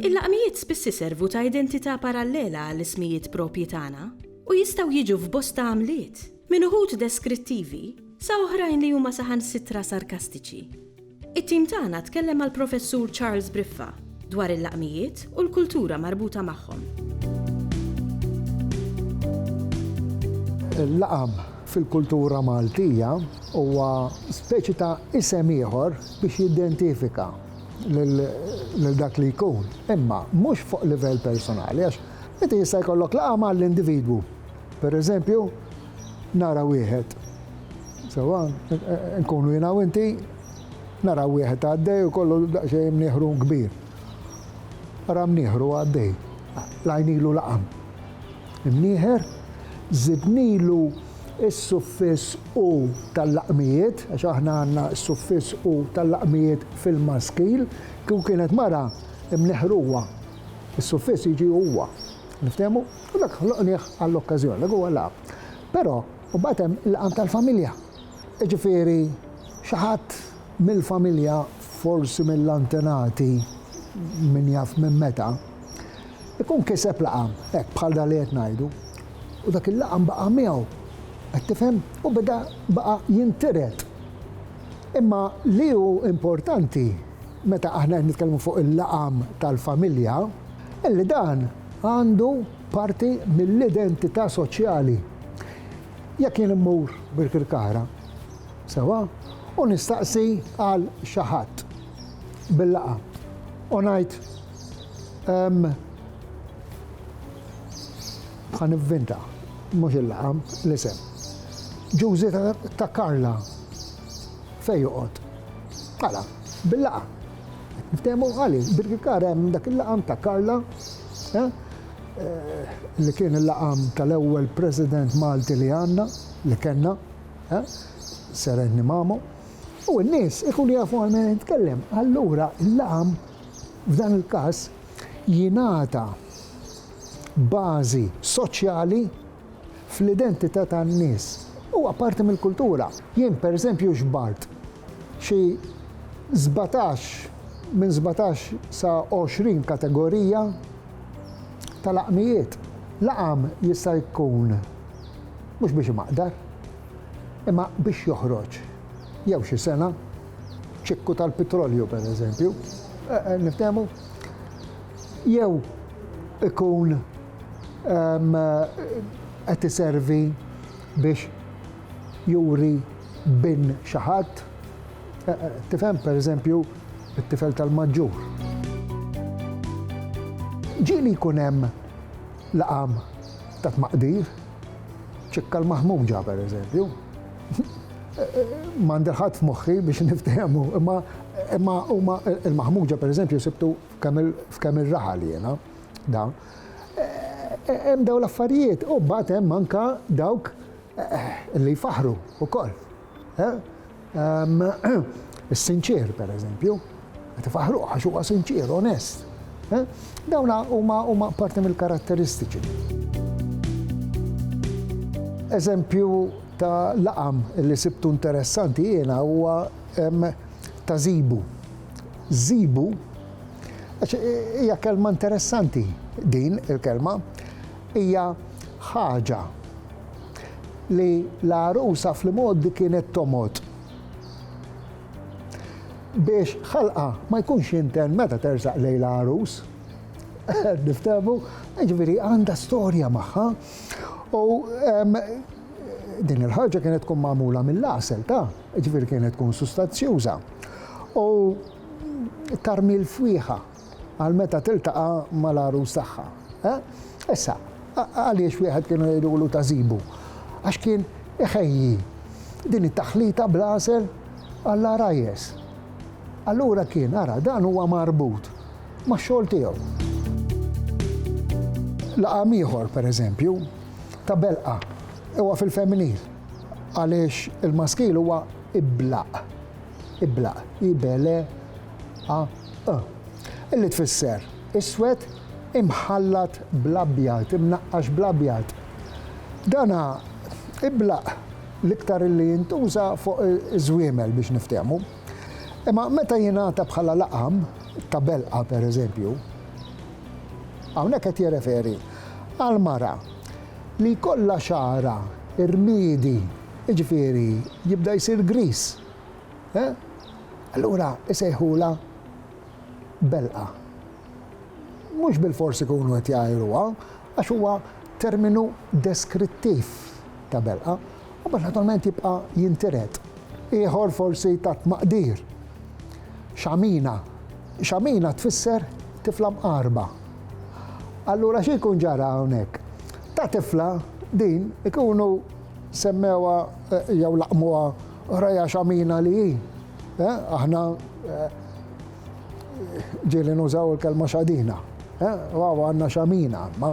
Il-laqmijiet spiss iservu ta' identità parallela għall-ismijiet proprji tagħna u jistgħu jiġu f'bosta għamliet, minn uħud deskrittivi sa oħrajn li huma saħansitra sarkastiċi. It-tim tagħna tkellem mal-Professur Charles Briffa dwar il-laqmijiet u l-kultura marbuta magħhom. Il-laqam fil-kultura Maltija huwa speċi ta' isem ieħor biex jiddentifika lil dak li jkun, imma mhux fuq livell personali għax inti jista' jkollok laqam għall-individwu. Pereżempju, nara wieħed. Sewwa, nkunu jiena u inti, naraw wieħed għaddej u kollu daqsxejn mnieħru kbir. Ara mnieħru għaddej, l-għajn ilu laqam. Imnieħer, żidnilu s-suffiss u tal-laqmijiet, għax aħna għandna s-suffiss u tal-laqmijiet fil-maskil, kieku kienet mara, imnieħruha. Is-suffiss jiġi huwa. Niftehmu? U dak ħloqnieh għall-okkażjoni, dak huwa l-Ab. Però, u mbagħad hemm il-qam tal-familja. Jiġifieri, xi ħadd mill-familja, forsi mill-antenati, min jaf minn meta, ikun kiseb laqam, hekk bħal dan li qed ngħidu, u dak il-laqam baqa' miegħu. Qed tifhem? U beda, baqa' jintiret. Imma li hu importanti, meta aħna qed nitkellmu fuq il-laqam tal-familja, illi dan, Għandu parti mill-identità soċjali. Jekk jien immur Birkirkara, sewwa, u nistaqsi għal xi ħadd bil-laqgħa u ngħid ehm, ħa nivvinta, mhux il-laqgħa, l-isem. Ġużi ta' Karla fej joqgħod. Għala, bil-laqgħa. Ftehmu għali, Birkikar hemm dak il-laqam ta' Karla, li kien il-laqam tal-ewwel President Malti li għandna, li kellna, Sir Anthony Mamo, u n-nies ikunu jafu għal min qed nitkellem. Allura l-laqam f'dan il-każ jingħata bażi soċjali. fl-identità tan-nies. Huwa parti mill-kultura. Jien pereżempju xbart xi sbatax, minn sbatax sa għoxrin kategorija ta' laqmijiet. Laqam jista' jkun mhux biex imaqdar, imma biex joħroġ jew xi sengħa, ċikku tal-pitrolju pereżempju, niftehmu, jew ikun qed iservi biex juri bin xi ħadd. Tifhem, pereżempju, it-tifel tal-maġġur. Ġieli jkun hemm laqam ta' tmaqdir, ċikka l-maħmuġa, pereżempju. M'għandi ħadd f'moħħi biex niftehmu, imma huma l-maħmuġa, pereżempju, sibtu f'kemm ir-raħal jiena. Da. Hemm daw l-affarijiet u mbagħad hemm anka dawk eh, li jfaħru wkoll. Eh? Ehm, is-sinċier, per eżempju, qed ifaħru għax huwa sinċier, onest. Eh? Dawna huma huma parti mill-karatteristiċi. Eżempju ta' laqam li sibtu interessanti jiena huwa ehm, ta' zibu. żibu għax hija kelma interessanti din il-kelma hija ħaġa li l-għarusa fl-imgħoddi kienet tomgħod biex ħalqa ma jkunx jinten meta tersaq lejn l-għarus. Niftemu, ġifieri għandha storja magħha u din il-ħaġa kienet tkun magħmula mill-għasel ta' Jiġifieri kienet tkun sustanzjuża u tarmil fwieħa għal meta tiltaqa' mal-għarus tagħha. Issa, għaliex wieħed kienu jgħidulu ta' żibu? Għax kien iħejji din it-taħlita bl-għasel għall-għarajjes. Allura kien, ara, dan huwa marbut max-xogħol tiegħu. Laqam ieħor, pereżempju, ta' belqa, huwa fil-femminil. għaliex il-maskil huwa iblaq. Iblaq, ibele, a, ë. Illi tfisser iswed imħallat bl-abjad, imnaqqax bl-abjad. Dana iblaq l-iktar illi jintuża fuq iż-żwiemel biex niftehmu. Imma meta jingħata bħala laqam ta' belqa pereżempju, hawnhekk qed jirreferi għal mara li jkollha xagħarha rmiedi, jiġifieri jibda jsir griż, allura jsejħulha belqa. Mhux bilfors ikunu qed jgħajruha, għax huwa terminu deskrittiv ta' belqa. U mbagħad naturalment jibqa' jintiret ieħor forsi ta' tmaqdir. Xamina. Xamina tfisser tifla mqarba. Allura xi jkun ġara hawnhekk? Ta' tifla din ikunu semmewa eh, jew laqmuha raja xamina li hi. Eh, aħna eh, ġieli nużaw il-kelma xadina. U għawa għanna xamina, ma.